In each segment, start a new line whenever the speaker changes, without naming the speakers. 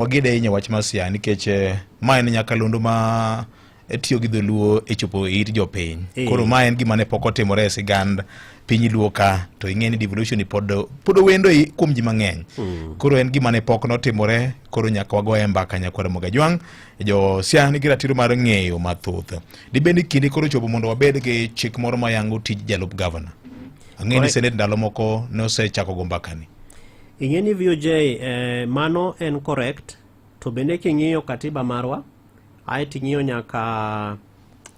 wagede ahinya e wach mar siaya nikech eh, ma en nyakalondo ma eh, tiyo gi dholuo e chopo e it jopiny eh. koro ma en gima ne pok otimore e sigand piny luo ka to ing'e ni devolution pod pod owendo kuom ji mang'eny hmm. koro en gima ne pok notimore koro nyaka wagoye mbaka nyakwar mogajwang' jo siaya nigi ratiro mar ng'eyo mathoth dibed ni kinde koro chopo mondo wabed gi chik moro mayango tij jalup gavana ang'e ni senet ndalo moko nosechako go mbakani Ing'e ni VOJ
eh, mano en correct to bende king'iyo katiba marwa ae ting'iyo nyaka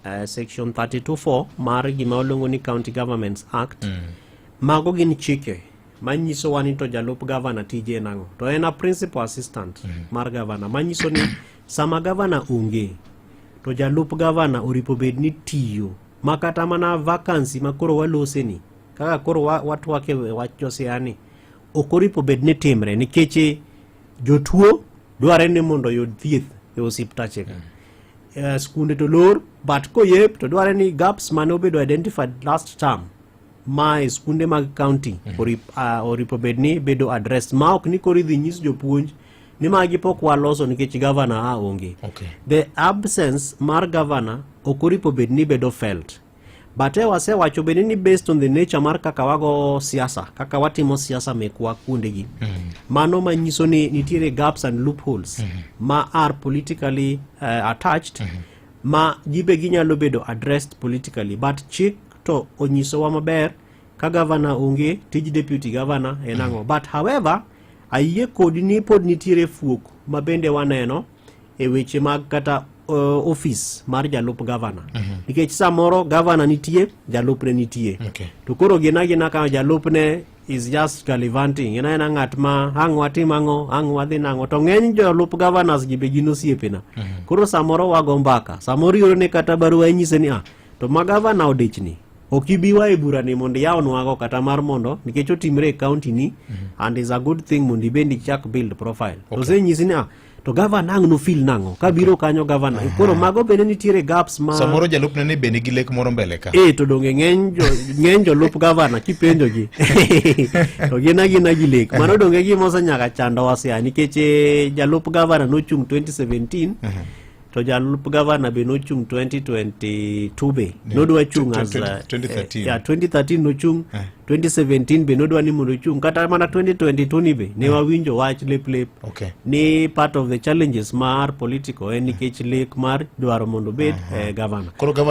eh, section 324 mar gima oluongo ni County Governments Act mm. mago gin chike manyiso wa ni to jalup gavana tije nang'o to en a principal assistant mm. mar gavana manyiso ni sama gavana onge to jalup gavana oripo bed ni tiyo makata mana vacancy makoro waloseni kaka koro watwake wach josiani ok oripo bed ni timre nikech eh, jotuo dwarre ni mondo oyud thieth e osiptache ka mm. eh, skunde to lor but koyep to dwarre ni gaps mane obedo identified last term ma e skunde mag county mm. orip, uh, oripo bed ni bedo address ma ok ni koro idhi nyis jopuonj ni magi pok waloso nikech gavana a onge okay. the absence mar gavana ok oripo bed ni bedo felt But eh, wasewacho bende ni based on the nature mar kaka wago siasa, kaka watimo siasa mekwa kuondegi. Mm. Mano manyiso ni nitiere gaps and loopholes mm. ma are politically uh, attached mm. ma gibe ginyalo bedo addressed politically but chik to onyisowa maber ka gavana onge tij deputy gavana en ang'o mm. but however ayie kodi ni pod nitiere fuok ma bende waneno e weche mag kata uh, ofis mar jalup gavana mm -hmm. nikech samoro gavana nitie jalupne nitie okay. to koro gina gina ka jalupne is just galivanting ena ena ng'at ma ang' watim ang'o ang' wadhi nang'o to ng'eny jolup governors gi be gin osiepena mm -hmm. koro samoro wago mbaka samoro iyudo ni kata barua inyise ni ah to ma gavana odichni ok ibi wa e bura ni mondo iyawnwago kata mar mondo nikech otimre e county ni mm -hmm. and is a good thing mondo ibendi chak build profile okay. osenyisi ni ah, to gavana ang' nofil nang'o kabiro kanyo gavana koro mago bende nitiere gaps ma samoro jalupne ni bende
gi lek moro mbele ka eh to donge
ng'eny jolup gavana kipenjogi to gin agina gi lek mano donge gima osenyaka chandowa sia nikech eh, jalup gavana nochung' 2017 to jalup gavana be nochung 2022 be yeah. nodwa chung as 2013 uh, yeah, 2013 nochung eh. 2017 be nodwa ni mondo ochung kata mana 2022 ni be ne eh. wawinjo wach lep lep okay. ni part of the challenges mar political en eh,
nikech
lek mar dwaro mondo bed uh
-huh. eh,
gavana koro gavana